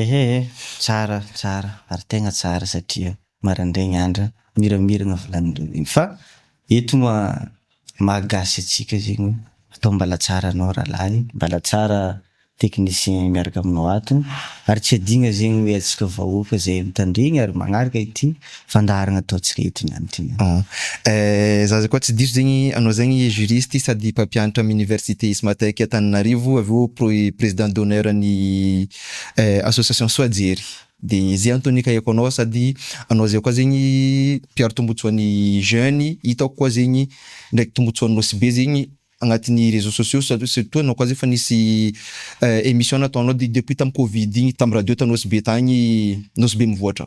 Ehee tsara tsara ary tegna tsara satria marandraigny andra miramiragna volaninareo zegny fa eto ma maha gasy antsika zegny atao mbala tsara anao rahalahy mbala tsara technicien miaraka aminao ato ary tsy adigna zegny hoe antsika vahoaka zay mitandregny ary magnaraka ity fandaharana atao tsy reto ny any ty. Ah eh za koa tsy diso zegny anao zegny juriste sady mpampianatra am université Ismatec Antananarivo avy eo pro- président d'honneur an'ny eh association soa jery de ze antony nikahiko anao sady anao zay koa zegny mpiaro tombotsoan'ny jeune hitako koa zegny ndraiky tombotsoanao sy be zegny agnatin'ny réseaux sociaux sa- surtout anao koa zay fa nisy eh émission nataonao de- depuis tam covid igny tam radio ta Nosy be tagny Nosy be mivoatra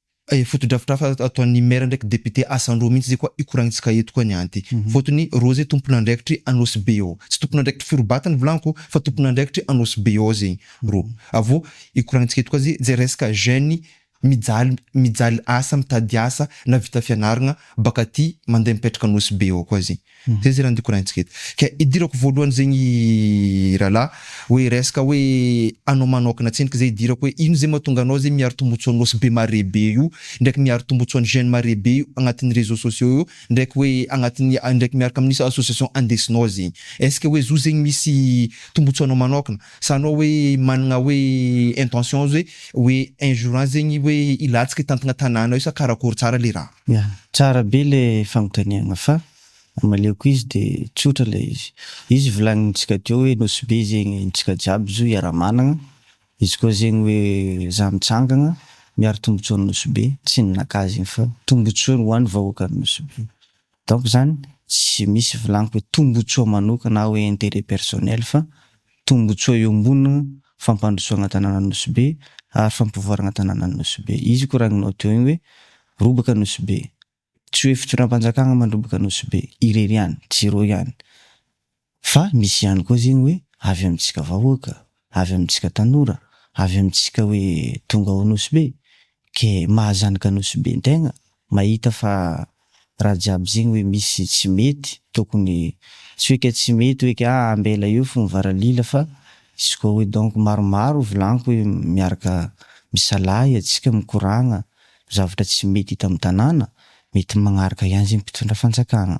Fotodrafitrasa ataon'ny Maire ndraiky Député asa an-droa mihitsy zay koa ikoragnintsika eto koa ny anty. Fotony roa zay tompon'andraikitry Anosibe eo. Tsy tompon'andraikitry Firobato ny volaniko fa tompon'andraikitry Anosibe eo zay roa. Avô ikoragnintsika eto koa zay zay resaka jeune mijaly mijaly asa mitady asa na vita fianaragna baka aty mandeha mipetraka Anosibe eo koa zay. Zay zay nandiko raintsika eto. Ka idirako voalohany zegny rahalahy hoe resaka hoe anao manokana tsiny ka zay idirako hoe ino zay mahatonga anao zay miaro tombotsoa an'i nosy be mare be io ndraiky miaro tombotsoa an'i jeune mare be io agnatin'ny réseaux sociaux io ndraiky hoe agnatin'ny ndraiky miaraka amin'ny association andesinao zegny est-ce que hoe zo zegny misy tombotsoanao manokana Sa anao hoe managna hoe intention hoe hoe un jour an zegny hoe hilatsaka hitantagna tanàna io sa karakôry tsara le raha? Ya, tsara be le fanontaniagna fa amaleoko izy de tsotra le izy. Izy volagnintsika teo hoe Nosy Be zegny ntsika jiaby zo hiara-managna, izy koa zegny hoe za mitsangagna miaro tombotsoan'i Nosy Be, tsy ny nakà zegny fa tombotsoany ho an'ny vahoakan'i Nosy Be. Donc izany tsy misy volagniky hoe tombotsoa manokana hoe interet personnel fa tombotsoa eo ambony fampandrosoagna tanàna Nosy Be ary fampivoaragna tanàna Nosy Be izy koragninao teo igny hoe robaka Nosy Be tsy hoe fitondram-panjakagna mandrobaka Nosy Be irery ihany tsy ireo ihany Fa misy ihany koa zegny hoe avy amintsika vahoaka, avy amintsika tanora, avy amintsika hoe tonga ao Nosy Be, ke maha zanaka Nosy Be ntegna, mahita fa raha jiaby zegny hoe misy tsy mety, tokony, tsy hoe ke tsy mety hoe ke ah ambela eo fo mivaralila fa izy koa hoe donc maromaro volaniko hoe miaraka misalahy atsika mikoragna zavatra tsy mety hita amin'ny tanàna, mety magnaraka ihany zegny mpitondra fanjakagna.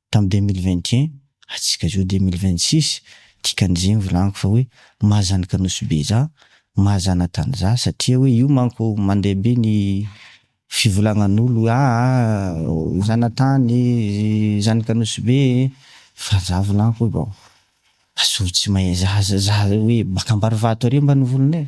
Tam deux mille vingt et un hatsika izao deux mille vingt six dikan'izay ny volagny fa hoe maha zanaka nosy be za, maha zanatany za satria hoe io manko mandeha be ny fivolagnan'olo hoe aa zanatany zanaka nosy be e, fa za volagniko hoe bon azovy tsy mahay za za hoe baka ambarivato ary mba ny volonay.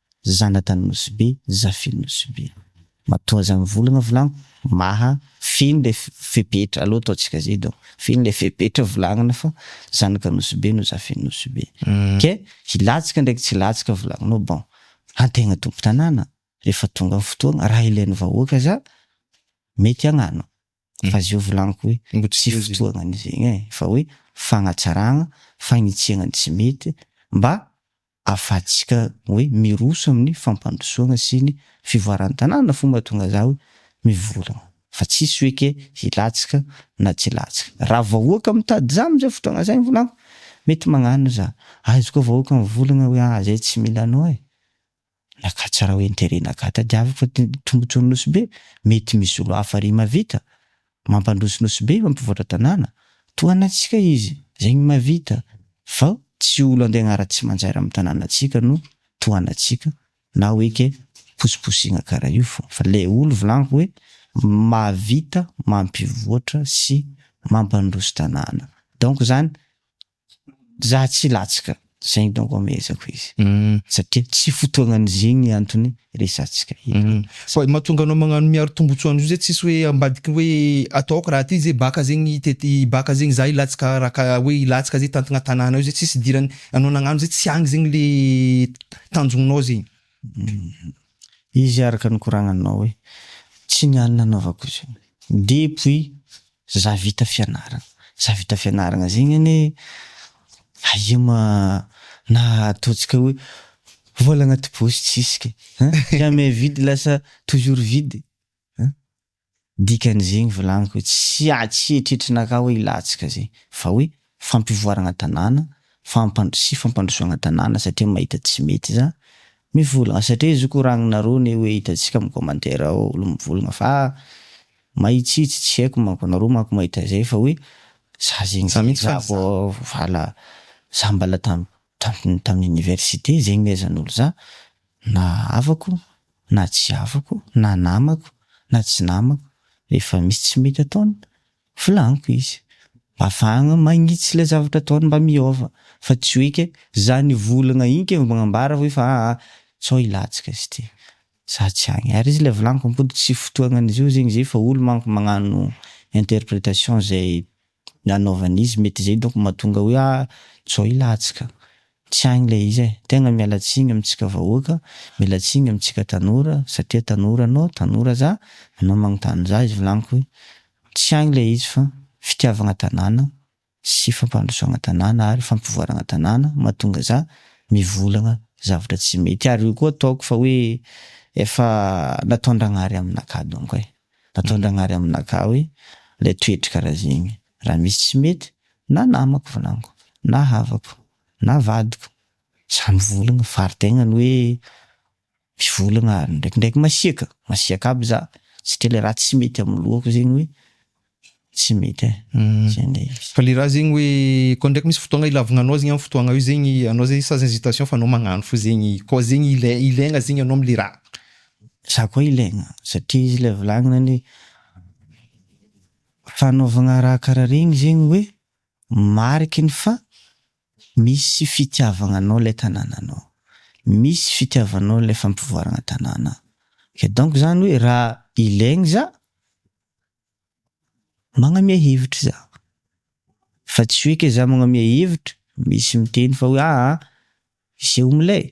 Zanatany Nosy Be, Zafy Nosy Be. Matoa aza mivolagna volagno maha feno le fepetra alou ataontsika zay donc feno le fepetra volagna fa zanaka Nosy Be no Zafy Nosy Be ke hilatsaka ndraiky tsy hilatsaka volagnao bon antegna tompon-tanàna rehefa tonga ny fotoagna raha ilain'ny vahoaka aza mety agnano. Mm. Fa zay volaniko hoe Mbo tsy tsy feheziny. fotoana an'izegny e, fa hoe fagnatsaragna, fagnitsiagna ny tsy mety mba afahantsika hoe miroso amin'ny fampandrosoagna sy ny fivoaran'ny tanàna fô mahatonga za hoe mivolagna fa tsisy hoe ke hilatsaka na tsy hilatsaka. Raha vahoaka mitady za am'zay fotoagna zay ny volaniko, mety magnano za, aiza koa vahoaka mivolagna hoe ah zay tsy mila anao e! Nakatsy rah interet naka tadiaviko ty tombotsoan'i Nosy Be, mety misy olo hafa ry mavita, mampandroso Nosy Be, mampivoatra tanàna, toa anantsika izy, zegny mavita, vao tsy olo andeha agnara tsy manjaira amin'ny tanànantsika no toa anantsika, na hoe ke posiposigna kara io fô, fa le olo volagniko hoe mavita, mampivoatra sy mampandroso tanàna, donc zany Za tsy latsaka, zegny donc amehezako izy satria tsy fotoagnany zegny antony resatsika eto. Fa mahatonga anao magnano miaro tombotsoa an'izao zay tsisy hoe ambadiky hoe atao aoka raha ty zay baka zegny tety baka zegny za hilatsaka raha ka hoe hilatsaka zay tantigna tanàna eo zay tsisy idirany anao nagnano zay tsy agny zegny le tanjognonao zegny. Izy araka ny koragnanao hoe tsy ny any nanaovako izy io depuis Za vita fianarana. Za vita fianarana zegny anie aia ma na ataontsika hoe vola agnaty paosy tsisy kay an! jamais vide lasa toujours vide an! Dikan'izegny volagniko hoe tsy tsy eritreritrinakahy hoe hilatsaka zegny fa hoe fampivoaragna tanàna, fampandro sy fampandrosoagna tanàna satria mahita tsy mety za mivolagna satria izy io koragnonareo ne hoe hitantsika am commentaire ao olo mivolagna fa mahitsitsy tsy haiko manko anareo manko mahita zay fa hoe za zegny Za mitsy za vao vala za mbala tam tam tam université zegny mehezanolo za na havako na tsy havako na namako na tsy namako refa misy tsy mety ataony Volaniko izy, bavahagna magnitsy ilay zavatra ataony mba miôva, fa tsy hoe ke, za nivolagna igny ke vao magnambara hoe fa aa, sao hilatsaka izy ty, za tsy agny, ary izy ilay volaniko ampody tsy fotoagnan'izy io zegny zay fa olo manko magnano interprétation zay nanaovany izy, mety zay donko mahatonga hoe aa, sao hilatsaka. Tsy agny le izy e! Tegna miala tsiny amintsika vahoaka, miala tsiny amintsika tanora satria tanora anao, tanora za, anao magnontany za izy volagniko hoe tsy agny le izy fa fitiavagna tanàna sy fampandrosoagna tanàna ary fampivoaragna tanàna mahatonga za mivolagna zavatra tsy mety ary io koa ataoko fa hoe efa nataondragnahary aminakahy donko e! Nataondragnahary aminakahy hoe le toetry karaha zegny. raha misy tsy mety na namako volagno na havako na vadiko za mivolagna fary tegna ny hoe mivolagna ary ndraikindraiky masiaka masiaka aby za satria le raha tsy mety amy lohako zegny hoe tsy mety e zay ndray izy. Fa le raha zegny hoe koa ndraiky misy fotoagna ilavagna anao zegny amy fotoagna io zegny anao zegny sans hésitation fa anao magnano fo zegny koa zegny ilai- ilaigna zegny anao amy le raha. Za koa ilaigna satria izy le volagniny hoe Fanaovagna raha karaha regny zegny hoe mariky ny fa misy fitiavagnanao ilay tanànanao, misy fitiavanao ilay fampivoaragna tanàna, ke donc zany hoe raha ilaigny za magnamia hevitra za, fa tsy hoe ke za magnamia hevitra misy miteny fa hoe aa iseho milay,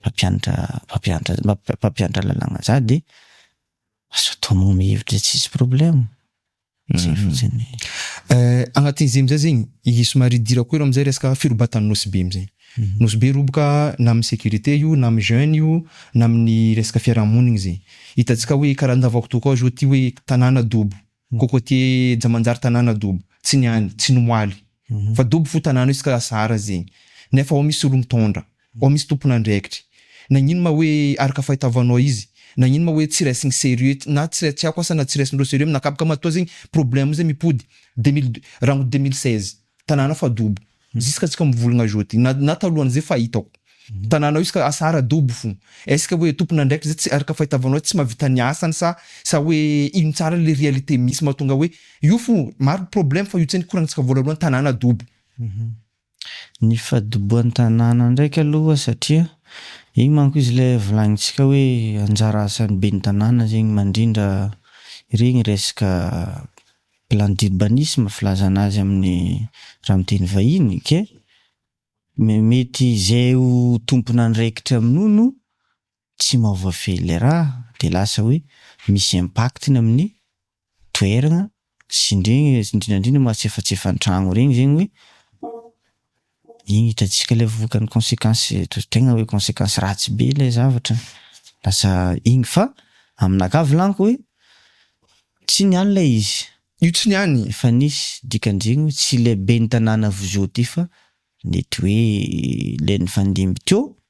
mpampianatra mpampianatra mpampianatra lalàgna za de azo atao magnome hevitra zay tsisy problème, zay fotsiny. Agnatin'izay amizay zegny i somary idirako hely amizay resaka firobatan'i Nosy Be amizay, Nosy Be roboka na amin'ny sécurité io na amin'ny jeune io na amin'ny resaka fiarahamonigny zegny, hitantsika hoe karaha andavako tokoa zao ty hoe tanàna dobo Cocotier ja manjary tanàna dobo, tsy ny any, tsy ny ho aly. Fa dobo fo tanàna io izy ka lasa hara zegny. Nefa ao misy olon-taondra, ao misy tompon'andraikitry. Nagnino ma hoe araka fahitavanao izy? Nagnino ma hoe tsy raisigny sérieux, na tsy tiako asa na tsy raisindreo sérieux aminakaby ka matoa zegny problème zegny mipody? Deux mille deux, rangotro deux mille seize, tanàna fa dobo. Juska tsika mivologna jody na na talohan'izay fa hitako tananao izy ka asa ara dobo fo est-ce que hoe tompon'andraikitra zay tsy araka fahitavanao tsy mahavita ny asany sa sa hoe ino tsara le réalité misy mahatonga hoe io fo maro problème fa io tsy nikoragnitsika voalohany tanàna dobo. Ny fadobohan'ny tanàna ndraiky aloha satria igny manko izy le volagnintsika hoe anjara asan'ny ben'ny tanàna zegny mandrindra iregny resaka Plan d'urbanisme filazana azy amin'ny raha amin'ny teny vahiny ok. Mety izay ho tompon'andraikitra amin'io no tsy maha voafehy ilay raha dia lasa hoe misy impact-ny amin'ny toerana sy indrindra indrindra mahatsefatsefan-tragno ireny zegny hoe Iny hitantsika ilay vokany consequence tegna hoe consequence ratsy be ilay zavatra lasa iny fa aminakahy volagniko hoe tsy niany ilay izy, Io tsy niany. Efa nisy dikan-dreny hoe tsy ilay ben'ny tanàna vozio ty fa nety hoe ilay nifandimby teo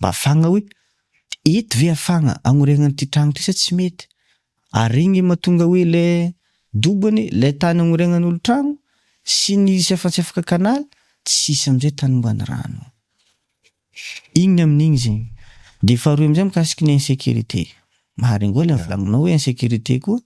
Mba fagna hoe eto ve afagna agnoregna an'ity tragno ty sa tsy mety? Ary igny le mahatonga hoe le dobo anie le tany agnoregnan'olo tragno sy ny izy efa tsy afaka canal tsisy amizay tany ombany rano. Igny amin'igny zegny. De faharoy amizay mikasiky ny insécurité. Maharingô ilay volagninao hoe insécurité koa.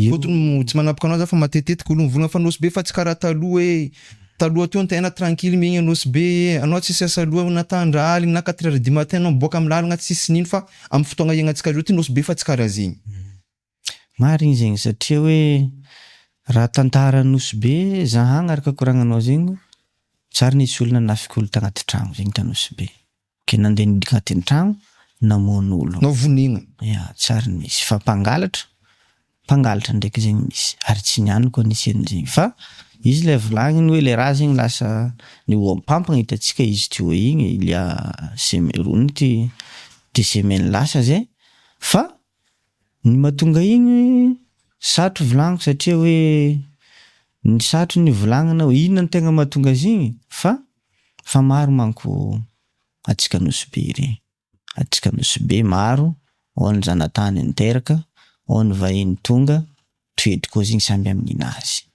Fotony mo tsy manapoka anao za fa matetitetika olo mivona fa Nosy be fa tsy kara taloha hoe taloha teo ny tehana tranquille miaigny a Nosy be ee anao tsisy asa loha na ta andra aligny na quatre heure du matin anao miboaka am lalagna tsisy nino fa am fotoagna iaignantsika zao ty Nosy be fa tsy kara zegny. Marigny zegny satria hoe raha tantara Nosy be za hagnaraka koragnanao zegny zary nisy olo nanafika olo tagnaty tragno zegny ta Nosy be Ke nandeha nidika teny tragno namono olo. No vonina. Ya tsy ary nisy fa mpangalatra mpangalatra ndraiky zegny misy ary tsy niany koa nisy anizegny fa izy le volagniny hoe le raha zegny lasa ny ohampampagna hitatsika izy teo igny il ya semaine roa minute deux semaines lasa zay fa ny matonga igny satro volagniko satria hoe ny satro ny volagnina inona ny tegna matonga azy igny fa Fa maro manko atsika nosy be re. Atsika nosy be maro ao ny zanatany niteraka, ao ny vahiny tonga, toetry koa zegny samby amy ninazy.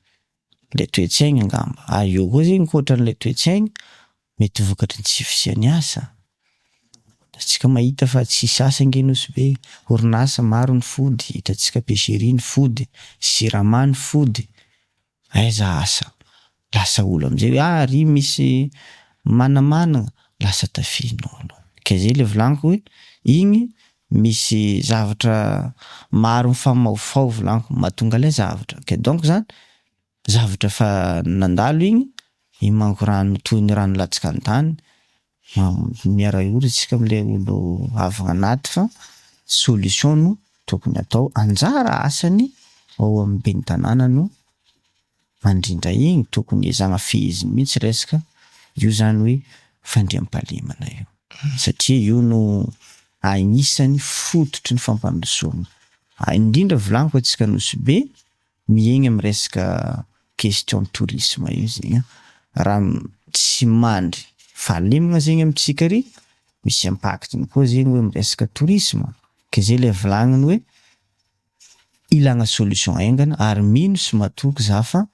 Le toetsaigny angamba, ary eo koa zegny koatra anle toetsaigny mety vokatry ny tsy fisiany asa. Atsika mahita fa tsisy asa ange nosy be, orinasa maro ny fody, itatsika pecherie ny fody, jirama ny fody, Aiza asa? Lasa olo amizay hoe ah ry misy manamanagna, lasa tafia nono. Ka zay le volaniko hoe igny misy zavatra maro mifamaofao volaniko mahatonga lay zavatra. Ka donc zany zavatra efa nandalo igny, imanko rano toy ny rano latsaka antany Miara ory tsika amle olo avy anaty fa solution no tokony atao anjara asany ao aminy beny tanàna no mandrindra igny tokony ezahana feheziny mihitsy reska io zany hoe fandriampahalemana io satria io no agnisany fototry ny fampandrosoana indrindra volaniko atsika Nosy be Miaigna amin'ny resaka question tourisme io zegny an, raha tsy mandry fahalemagna zegny amintsika ary misy impact-ny koa zegny hoe amin'ny resaka tourisme, ke zay le volagniny hoe ilagna solution haingana ary mino sy matoky za fa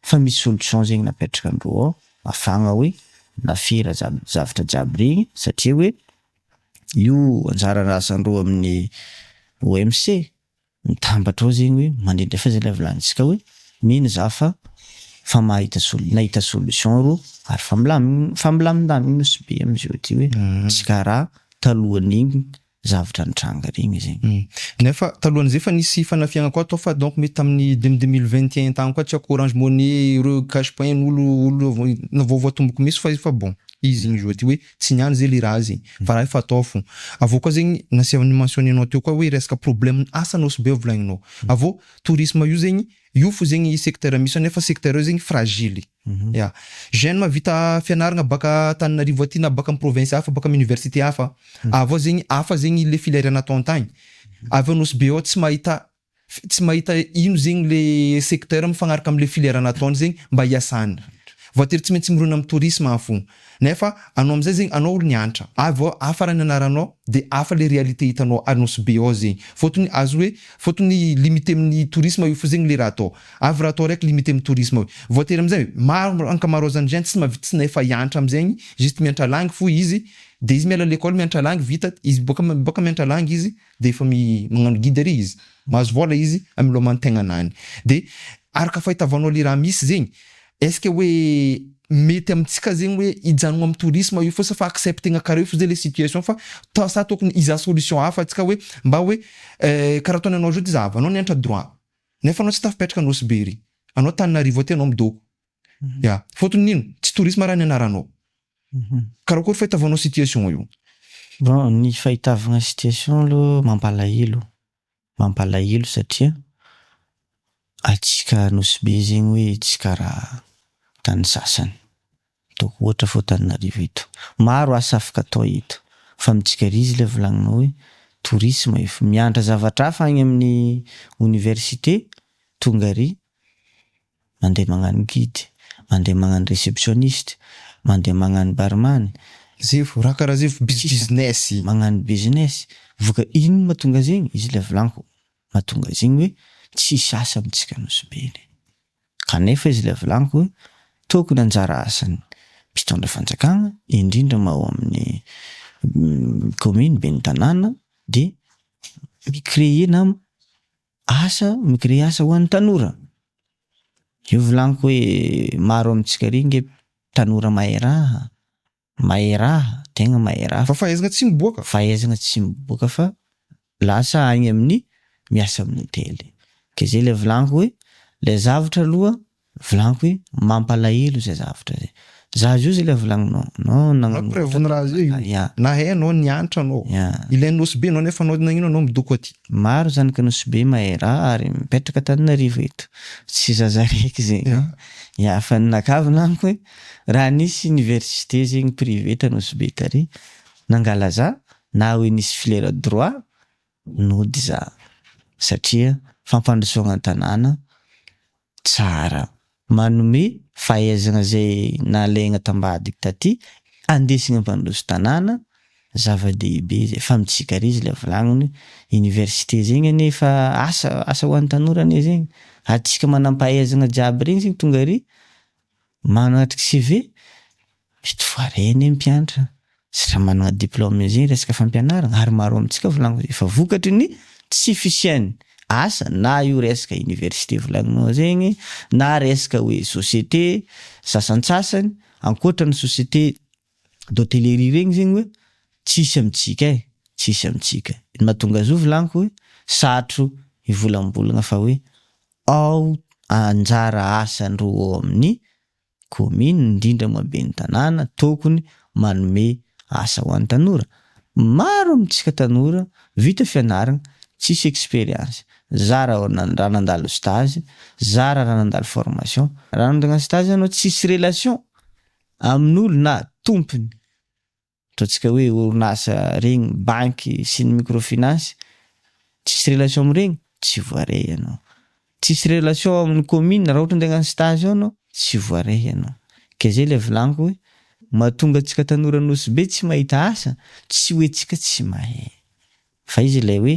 fa misy solution zegny napetrakandreo ao afahagna hoe lafera zany zavatra jiaby regny satria hoe io anjara asandreo amin'ny OMC. Mitambatra ao zegny hoe mandrindra fa zay ilay vilanintsika hoe mino za fa fa mahita sol nahita solution ro ary fa milamign fa milamindamigny nosy be amizao ty hoe tsy kara talohanigny zavatra nitranga regny zegny. Nefa talohan'izay efa nisy fanafihagna koa tao fa donc mety tamin'ny dem deux mille vingt et un tagny koa tsy haiko orange money ireo cash point olo olo vaovao tomboky misy fa izy fa bon izy igny zao ty hoe Tsy ny any zay le raha zay fa raha efa atao fo. Avy eo koa zegny nasehony ny mentionner-nao teo koa hoe resaka problème ny asa no sbeo volagninao. Avy eo tourisme io zegny io fo zegny secteur misy nefa secteur io zegny fragile. Ya. Jeune mavita fianaragna baka Antananarivo aty na baka am province hafa baka am université hafa avy eo zegny hafa zegny le filière natao antagny avy eo Nosy be ao tsy mahita Fe tsy mahita ino zegny le secteur mifagnaraka amle filière nataony zegny mba hiasany. Voatery tsy maintsy mirona am tourisme an fo. Nefa anao amzay zegny anao olo niantra. Avy eo hafa raha ny anaranao de hafa le réalité hitanao ary Nosy-Be ao zegny. Fôtony azo hoe fôtony limite aminy tourisme io fo zegny le raha atao. Avy raha atao raiky limite aminy tourisme io. Voatery amzay maro ankamaroazany zany tsy mahavita tsy efa hiantra amzegny juste miantra langue fo izy de izy miala à l'école miantra langue vita izy boaka boaka miantra langue izy dia efa magnano guide ary izy, mahazo vola izy amin'ny loman'ny tegnanany, dia araka fahitavanao le raha misy zegny, est ce que hoe mety amintsika zegny hoe hijanogna amin'ny tourisme io fotsiny fa acceptegna karaha io fotsiny zay le situation fa ta- sa tokony hizaha solution hafa antsika hoe mba hoe karaha ataony anao zao ty zahavy anao niantra droit nefa anao tsy tafapetraka Nosy Be ery, anao Antananarivo aty anao midoko, Ya, faotiny nino? Tsy tourisme raha ny anaranao. Karakory fahitavanao situation io? Bon, ny fahitavagna situation aloha mampalahelo, mampalahelo satria atsika Anosibe zegny hoe tsy karaha tany sasany, ataoko ohatra fô Tananarivo eto maro asa afaka atao eto fa amintsika ry izy le volagninao hoe tourisme ef mianatra zavatra hafa agny amin'ny Université tonga ary mandeha magnano guide, mandeha magnano receptionniste, mandeha magnano barman, Zefo, raha karaha zefo biz business. Magnano business, voka inona matonga zegny, izy ilay volagniko, matonga zegny hoe tsisy asa amintsika Nosy-Beny. Kanefa izy ilay volagniko, tokony anjara asan'ny mpitondra fanjakagna, indrindra ma ao amin'ny commune, ben'ny tanàna, dia mi-creer na Asa, mi-créer asa ho an'ny tanora. Io volaniko hoe maro amintsika ary nge tanora mahay raha, mahay raha, tegna mahay raha fa. Fa fahaizagna tsy miboaka. Fahaizagna tsy miboaka fa lasa agny amin'ny miasa amin'ny hotely. Ke zay le volaniko hoe le zavatra aloha Volagny hoe mampalahelo zay zavtra zay. Za zio zay le volagninao. Anao nagnamoraka. Na hay anao ny hanitra anao. Ilain'ny nosy be anao nefa anao nagnino anao midoko aty. Maro zany ka nosy be mahay raha ary mipetraka Antananarivo eto. Tsy zaza raiky zay. Ya fa ny nakaviny amiko hoe raha nisy université zegny privé ta nosy be tary nangala za na hoe nisy filière droit nody za satria fampandrosoagna an-tanàna Tsara. Manome fahaizana izay nalaina tambadika taty andesina mpandroso tanàna, zava-dehibe izay fa mitsikarizy ilay volagniny, université zegny anie efa asa, asa ho an'ny tanora anie zegny, ary tsika manampahaizana jiaby regny zegny tonga ary Manatrika CV, mety ho variana ny mpianatra sy raha manana diplôme izy iny resaka fampianarana ary maro amintsika volagninao efa vokatry ny tsy fisian'ny asa na io resaka université volagninao zegny na resaka hoe société sasantsasany ankoatra ny société d'hôtellerie regny zegny hoe tsisy amintsika e, tsisy amintsika, ny mahatonga azy io volagniko hoe sarotro hivolambolagna fa hoe ao anjara asany roa ao amin'ny kaominina, indrindra moa ben'ny tanàna, tokony manome asa ho an'ny tanora. Maro amintsika tanora vita fianarana, tsisy expérience, zara raha nandalo stage, zara raha nandalo formation, raha nandalo stage ianao tsisy relation amin'olo na tompony, Ataontsika hoe orinasa regny, banky sy ny microfinance, tsisy relation amin'iregny, tsy voaray ianao. Tsisy relation amin'ny commune, raha ohatran'ny te hagnano stage ao ianao, tsy voaray ianao. Ke zay ilay volaniko hoe, mahatonga antsika tanora Nosy Be tsy mahita asa, tsy hoe tsika tsy mahay. Fa izy ilay hoe,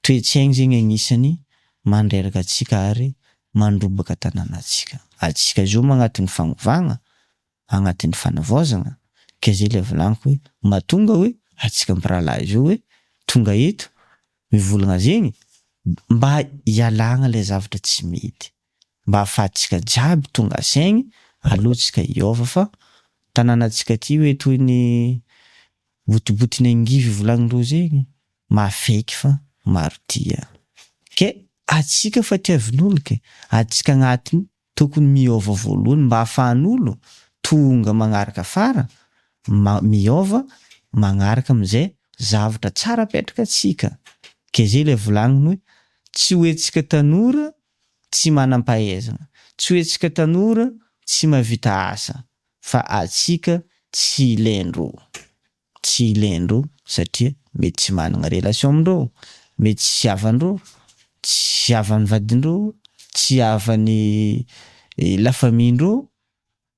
Toe-tsaigny zegny agnisany mandreraka antsika ary mandrombaka tananantsika. Antsika zao moa agnatin'ny fagnovagna, agnatin'ny fanavaozagna, ke zay le volagniko hoe mahatonga hoe antsika mpirahalahy zao hoe tonga eto mivolagna zegny mba hialagna le zavatra tsy mety. mba hafahatsika jiaby tonga saigny aloha tsika hiova fa tananatsika ty hoe toy ny botibotin'ny angivy ivolagnindreo zegny maha fake fa maro tia ke atsika fa tiavin'olo ke atsika agnatiny tokony miova voalohany mba afahan'olo tonga magnaraka afara ma miova magnaraka amizay zavatra tsara apetraka tsika ke zay le volagniny hoe tsy hoe tsika tanora tsy manam-pahaizana, tsy hoe tsika tanora tsy mahavita asa fa atsika tsy lendro, tsy lendro satria mety tsy manana relation amin-dreo, mety tsy havan-dreo, tsy havan'ny vadin-dreo, tsy havan'ny la famille-ndreo.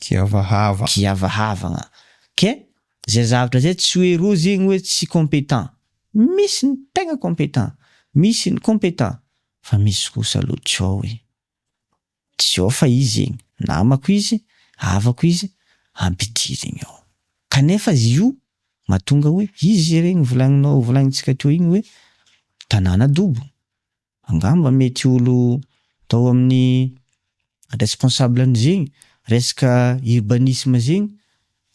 Kiavahava. Kiavahavagna. Ok? Zay zavatra zay tsy hoe roa zegny hoe tsy compétent. Misy ny tegna compétent. Misy ny compétent. Fa misy kosa aloha tsy ao e. Tsy ao fa izy zegny, namako izy, havako izy, ampidirigny ao. Kanefa io mahatonga hoe izy regny volagninao, volagnintsika teo igny hoe tanàna dobo. Angamba mety olo tao amin'ny responsable an'izegny resaka urbanisme zegny,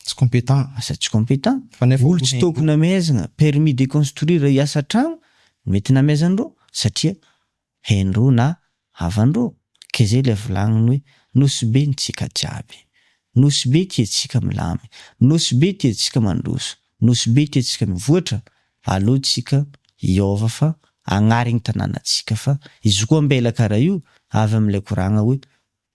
tsy compétent, asa tsy compétent, Fa nefa olo tsy tôkony amezagna permis de construire hiasa tragno no mety namezan'irô satria hain'irô na havan'irô, ke zay ilay volagniny hoe Nosy Be ny tsika jiaby, Nosy Be tiantsika milamy, Nosy Be tiantsika mandroso, Nosy Be tiantsika mivoatra, Aleo tsika hiova fa agnary ny tanàna tsika fa izy koa ambela kara io avy amle koragna hoe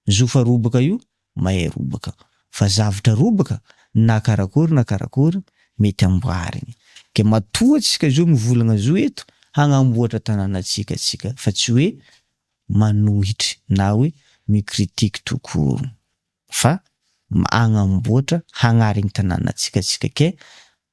zo fa robaka io mahay robaka fa zavtra robaka na karakory na karakory mety amboarigny de matoa tsika zo mivolagna zo eto hagnamboatra tanàna tsika tsika fa tsy hoe manohitry na hoe mi critique tout court fa agnamboatra hagnary ny tanàna tsika tsika ke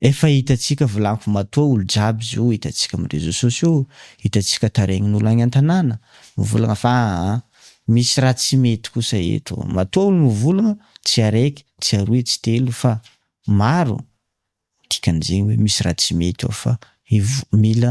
Efa hitantsika volako matoa olo jiaby zio hitantsika am reseau sociaux hitantsika tarehin olo agny antanàna mivolagna fa aa misy raha tsy mety kosa eto matoa olo mivolagna tsy araiky tsy aroe tsy telo fa maro dikan'izegny hoe misy raha tsy mety ao fa mila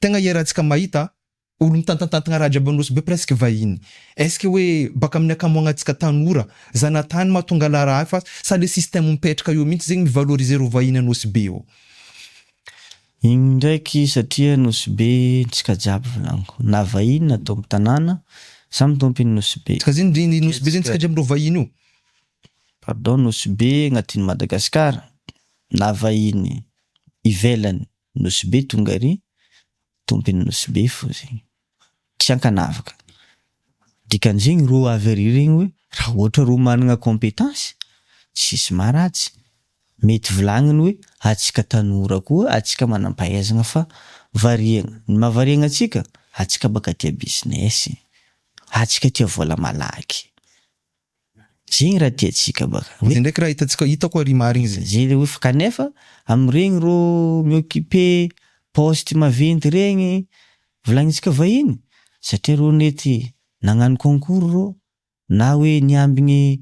Tegna iarahantsika mahita olo mitantantantigna raha jiaby Anosibe presque vahiny. Est-ce que hoe baka amin'ny ankamoagnatsika tanora, zanatany mahatonga la raha fa sa le système mipetraka eo mintsy zegny mi-valoriser reo vahiny Anosibe ao? Igny ndraiky satria Nosibe ntsika jiaby volagniko, na vahiny na tompo tanàna, samy tompiny Nosibe. Ka zegny ndry ny Nosibe zegny ntsika jiaby reo vahiny io? Pardon Nosibe agnatin'i Madagascar na vahiny ivelany Nosy be tonga ry tompin nosy be fo zegny tsy ankanavaka dikany zegny ro avy ary regny hoe raha ohatra ro managna competence tsisy maharatsy mety volagniny hoe atsika tanora koa atsika manampahaizagna fa variagna ny maha variagna atsika atsika baka tia business atsika tia vola malaky. Zigny raha tiantsika baka. Zay ndraiky raha hitantsika hitako ary marigny zay. Zay le hoe fa kanefa amiregny rô mi-occuper poste maventy regny volagnintsika vahiny satria rô nety nagnano concours rô na hoe niambigny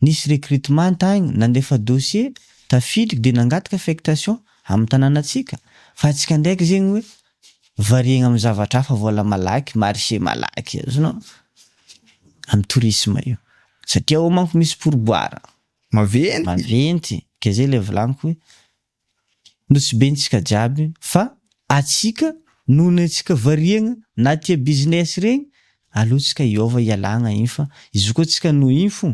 nisy recrutement tagny nandefa dossier tafiditry de nangataka affectation amy tananatsika fa atsika ndraiky zegny hoe variegna amin'ny zavatra hafa, vola malaky, marché malaky, azonao? Amin'ny tourisme io, satria ao manko misy pourboire. Maventy. Maventy, ka zay ilay volaniko hoe nosibentsika jiaby fa atsika noho ny antsika variegna na tia business regny, aleotsika hiova hialagna iny fa izy koa tsika noho iny fo,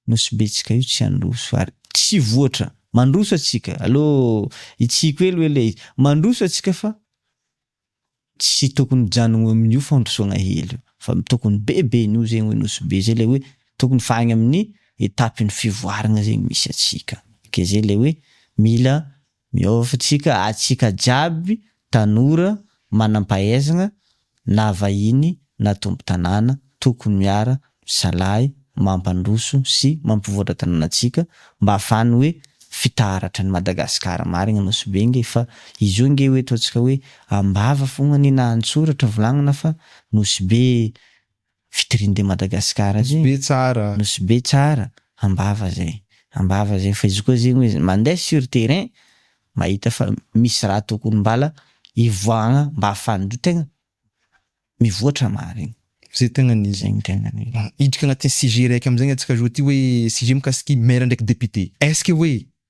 Nosy betsika io tsy handroso ary tsy voatra. Mandroso atsika allo itsiko hely hoe le izy. Mandroso atsika fa tsy tokony hijanogno amin'io fandrosogna hely io fa tokony be be noho zegny hoe nosy be zay le hoe tokony fa agny amin'ny etapin'ny fivoaragna zegny misy atsika ke zay le hoe mila Miôva tsika atsika jiaby tanora manampahaizagna na vahiny na tompo tanàna tokony miara misalahy mampandroso sy mampivoatra tanànatsika mba afahany hoe fitaratra ny Madagascar marigny Nosy Be nge fa izy io nge hoe ataontsika hoe ambava fogna anie na antsoratra volagnina fa Nosy Be vitrine de Madagascar zay, nosy be tsara, ambava zay, ambava zay, fa izy koa zegny hoe mandeha sur terrain mahita fa misy raha tokony mbala hivoahagna mba ahafahan'ny tegna mivoatra marigny. Zay tegna ny izy. Hiditra agnatin'ny sujet raiky amizay ny antsika zao ty hoe sujet mikasiky maire ndraiky député, est-ce que hoe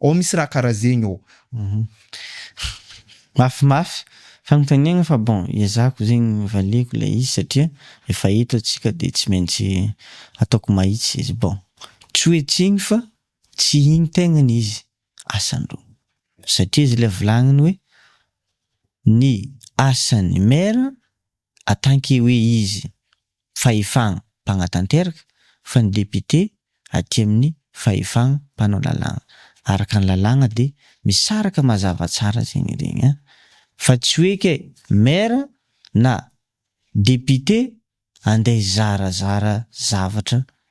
Ao misy raha kara zegny ô. Mafy mafy fanontaniagna fa bon ezahako zegny valiako ilay izy satria efa eto atsika dia tsy maintsy ataoko mahitsy izy bon tsy hoe tsy igny fa tsy igny tegnany izy asandro satria izy ilay volagniny hoe ny asan'ny maire en tant que hoe izy fahefana mpanatanteraka fa ny député aty amin'ny fahefana mpanao lalàna. Araka ny lalàna dia misaraka mazava tsara zegny iregny an! Fa tsy hoe kay maire na député andeha hizarazara zavatra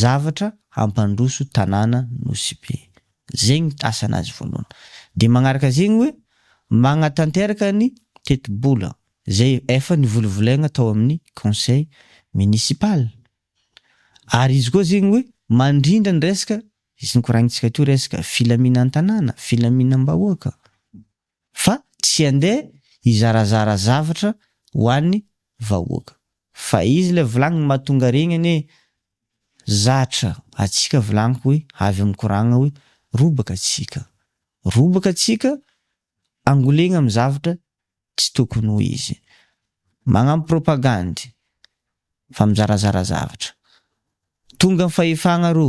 Zavatra hampandroso tanàna Nosy-Be. Zegny asa anazy voalohany. De magnaraka zegny hoe magnatanteraka ny tetibola zay efa nivolovolaigna tao amin'ny conseil municipal. Ary izy koa zegny hoe mandrindra ny resaka izy nikoragnintsika teo resaka filaminan-tanàna, filaminam-bahoaka. Fa tsy andeha hizarazara zavatra ho an'ny vahoaka. Fa izy ilay volagniny mahatonga regny anie zatra atsika volagniko hoy avy amin'ny koragna hoy robaka atsika robaka atsika angolegna amin'ny zavatra tsy tokony ho izy magnambo propagandy fa mizarazara zavatra tonga ny fahefagna rô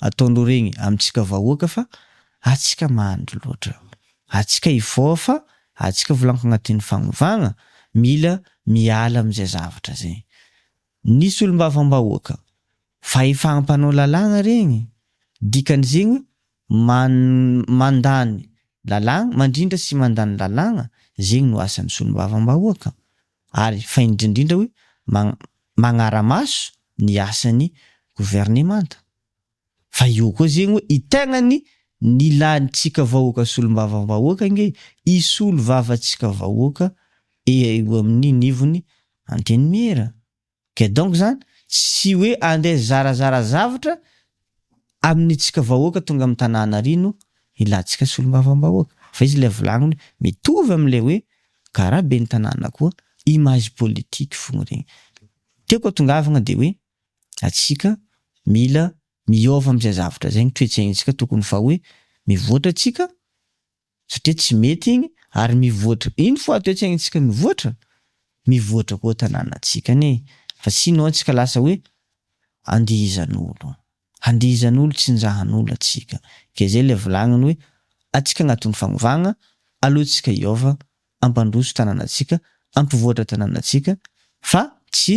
ataonao regny amintsika vahoaka fa atsika mahandry loatra atsika hivoaha fa atsika volagno agnatin'ny fagnovagna mila miala amizay zavatra zay ny solombavambahoaka fa efa ampanao lalagna regny dikan'izegny hoe man mandany lalagna mandrindra sy mandany lalagna zegny no asan'ny solombavambahoaka ary fa indrindra indrindra hoe magnara-maso ny asan'ny governemanta. Fa io koa zegny hoe i tegnany nilantsika vahoaka solombavambahoaka ange isolo vavantsika vahoaka eo amin'ny nivon'ny antenimiera. Ka donc zany tsy hoe andeha zarazara zavatra amin'ny tsika vahoaka tonga amin'ny tanàna ary no hilantsika solombavambahoaka. Fa izy ilay volagniny hoe mitovy amin'ilay hoe karaha ben'ny tanàna koa image politique fogna regny. Tiako atongavagna dia hoe antsika mila miôva amin'izay zavatra zay ny toe-tsaintsika tokony fa hoe mivoatra tsika, satria tsy mety igny ary mivoatra ino fo ato etsy tsika mivoatra mivoatra koa tanàna tsika anie fa tsy ino tsika lasa hoe andihizan'olo andihizan'olo tsinjahan'olo atsika ke zay le volagniny hoe atsika agnatin'ny fagnovagna aloha tsika hiova ampandroso tanàna tsika ampivoatra tanàna tsika fa tsy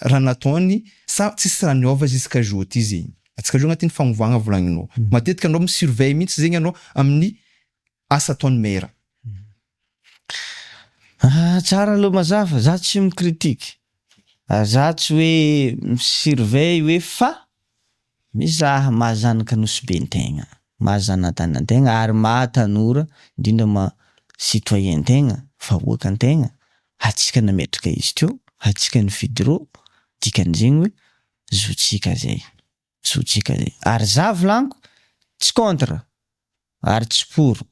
raha nataony sa tsisy raha niova jusqu'à jour ty zegny jusqu'à jour agnatin'ny fagnovagna volagninao matetika anao mi surveille mintsy zegny anao amin'ny asa ataon'ny maire. Ah tsara aloha mazava za tsy mi critique ary za tsy hoe mi surveille hoe fa. Mizaha maha zanaka Nosy Be an-tegna, maha zanatany an-tegna ary maha tanora indrindra maha citoyen an-tegna, vahoaka an-tegna, hatsika nametraka izy teo, hatsika nifidy rô, dikan'izegny hoe zotsika zay, zotsika zay. Ary za volaniko, tsy contre, ary tsy poro,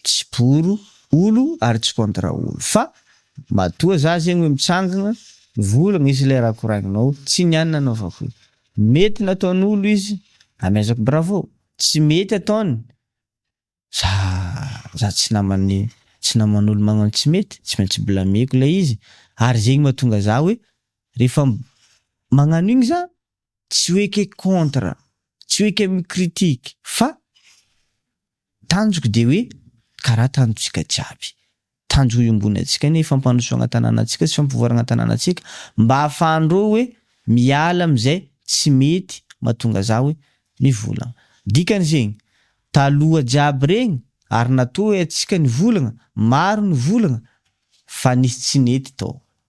tsy poro olo ary tsy contre olo fa matoa za zegny hoe mitsangagna mivolagna izy le raha koragninao tsy ny any nanaovako io mety nataon'olo izy amezako bravo tsy mety ataony za za tsy naman'ny tsy naman'olo magnano tsy mety tsy maintsy blameko le izy ary zegny mahatonga za hoe refa magnano igny za Tsy hoe ke contre, tsy hoe ke mi critique fa tanjoko dia hoe karaha tanjontsika jiaby, tanjo iombonantsika ny fampandrosoagna tananantsika sy fampivoaragna tananantsika mba afahandreo hoe miala amizay tsy mety matonga za hoe mivolagna. Dikany zegny, taloha jiaby regny ary natoa hoe atsika nivolagna, maro nivolagna fa nisy tsy nety tao.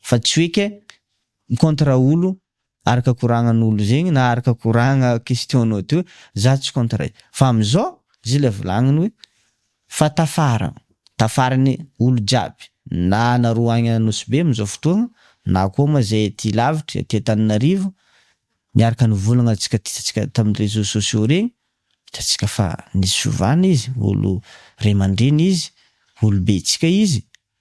Fa tsy hoe ke mi-contre olo araka koragnan'olo zegny na araka koragna question-nao teo, za tsy contre. Fa amizao zay le volagniny hoe fa tafara, tafarany olo jiaby na anareo agny Anosibe amizao fotoagna na koa moa zay aty lavitry, aty Antananarivo, miaraka nivolagna antsika ty tsika tamin'ny réseaux sociaux regny, hitantsika fa nisy fiovana izy, olo ray aman-dreny izy, olo betsika izy,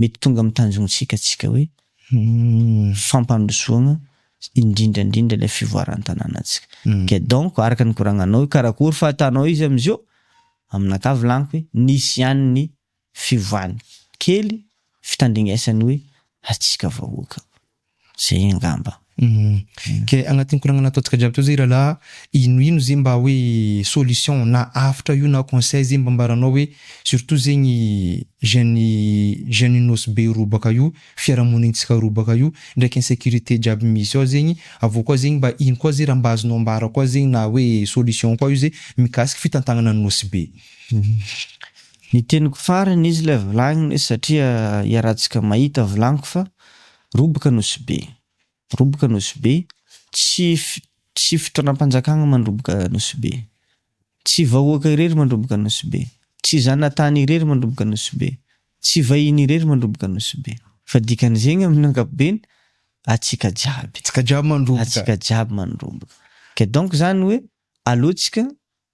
mety tonga amin'ny tanjontsika antsika hoe fampandrosoana indrindra indrindra ilay fivoaran'ny tanànantsika. Ka donc araka ny koragnanao hoe karakory fa atanao izy amizao, amin'akavy laniko hoe nisy ihany ny fiovany kely fitandringesany hoe atsika vahoaka. Zay angamba. Ke agnatin'ny koragna nataontsika jiaby teo zay rahalahy, ino ino zay mba hoe solution na avotra io na conseil zay mba ambaranao hoe surtout zegny jeune jeune Nosy be roa baka io, fiarahamonintsika roa baka io, ndraiky insecurite jiaby misy ao zegny, aveo koa zegny mba ino koa zay raha mba azonao ambara koa zegny na hoe solution koa io zay mikasiky fitantagnana an'i Nosy be. Ny teniko farany izy lay volagniny satria iarahantsika mahita volagniko fa Roboka Nosy-Be Roboka Nosy-Be, tsy tsy fitondram-panjakana mandroboka Nosy-Be. Tsy vahoaka irery mandroboka Nosy-Be. Tsy zanatany irery mandroboka Nosy-Be. Tsy vahiny irery mandroboka Nosy-Be. Fa dikan'izegny amin'ny ankapobeny, atsika jiaby. Atsika jiaby mandroboka. Atsika jiaby mandroboka. Ka donc zany hoe, aleontsika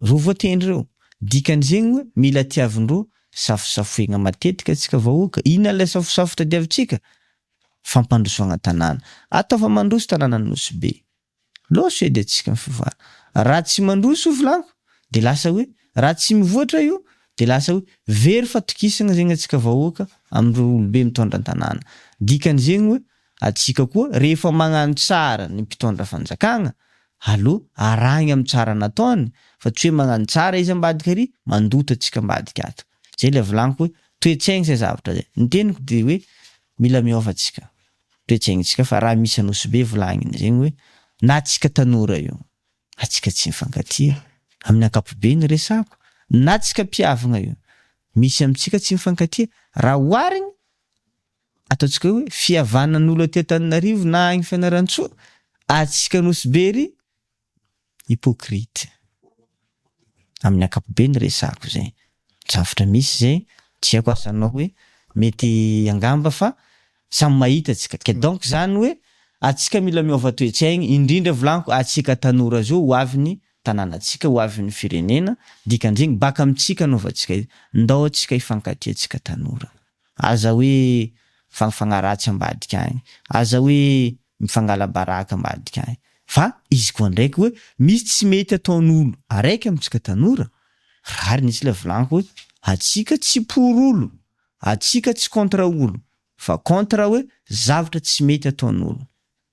Roa voatendry ireo. Dikan'izegny hoe mila tiavin-droa safosafoigna matetika antsika vahoaka. Inona ilay safosafo tadiavintsika? Fampandrosoagna tanàna. Atao fa mandroso tanàna ny Nosy Be. Loso edy antsika ny fivoara. Raha tsy mandroso io volanko dia lasa hoe raha tsy mivoatra io dia lasa hoe very fatokisagna zegny antsika vahoaka amin'ireo olobe mitondra an-tanàna. Dikan'izegny hoe Antsika koa rehefa magnano tsara ny mpitondra fanjakagna alou arahigny am tsara nataony fa tsy hoe magnano tsara izy ambadika ary mandoto atsika ambadika ato. Zay le volagniko hoe toetsaigny zay zavatra zay. Ny teniko de hoe mila miova atsika toetsaigny tsika fa raha misy anosibe volagniny zegny hoe na atsika tanora io atsika tsy mifankatia aminy ankapobe ny resako na atsika mpiavagna io misy amitsika tsy mifankatia raha oharigny ataontsika hoe fihavanan'olo aty Antananarivo na agny Fianarantsoa ary tsika Anosy Be ery hypocrite amin'ny ankapobeny resako zay zavatra misy zay tsy aiko asa anao hoe mety angamba fa samy mahita tsika ke donc zany hoe atsika mila miova toetsaigny indrindra volaniko atsika tanora zao ho avy ny tananatsika ho avy ny firenena dikan'zegny baka amitsika anaovantsika ndao atsika hifankatia tsika tanora. Aza hoe mifangfagna ratsy ambadika agny, aza hoe mifangala baraka ambadika agny, fa izy koa ndraiky hoe misy tsy mety ataon'olo araiky amintsika tanora, rariny izy ilay volagniko hoe atsika tsy pour olo, atsika tsy contre olo, fa contre hoe zavatra tsy mety ataon'olo.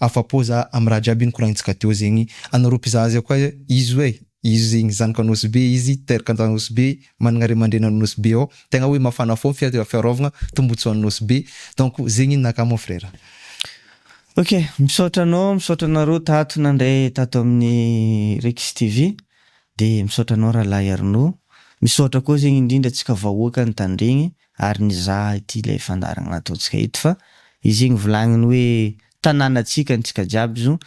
Afapo za am raha jiaby nokoraintsika teo zegny anareo mpizaha azy koa izy hoe izy zegny zanaka nosy be izy teraka an nosy be managna ray aman-dreny any nosy be ao tegna hoe mafana fo ny fiaraovagna tombotsoa any nosy be donc zegny ninakà mon frère. Ok misaotra anao misaotra anareo tato nandray tato amin'ny Rixx TV de misaotra anao Rahalahy Arnaud misaotra koa zegny indrindra antsika vahoaka Antandregny ary nizaha ity ilay fandaharana nataontsika ito fa izy igny volagniny hoe tananatsika antsika jiaby zo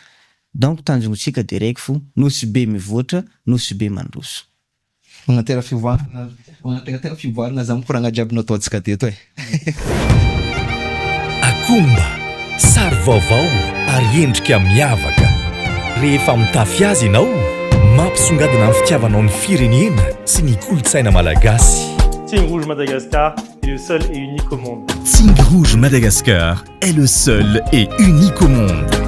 donc tanjontsika de raiky fo nosy be mivoatra nosy be mandroso. Manatera fivoarana manateratera fivoarana zany koragna jiaby nataontsika teto e. Akoho mba Sary vaovao ary endrika miavaka. Rehefa mitafy azy ianao, mampisongadina ny fitiavanao ny firenena sy ny kolontsaina malagasy. Signe Rouge Madagascar est le seul et unique au monde. Signe Rouge Madagascar est le seul et unique au monde.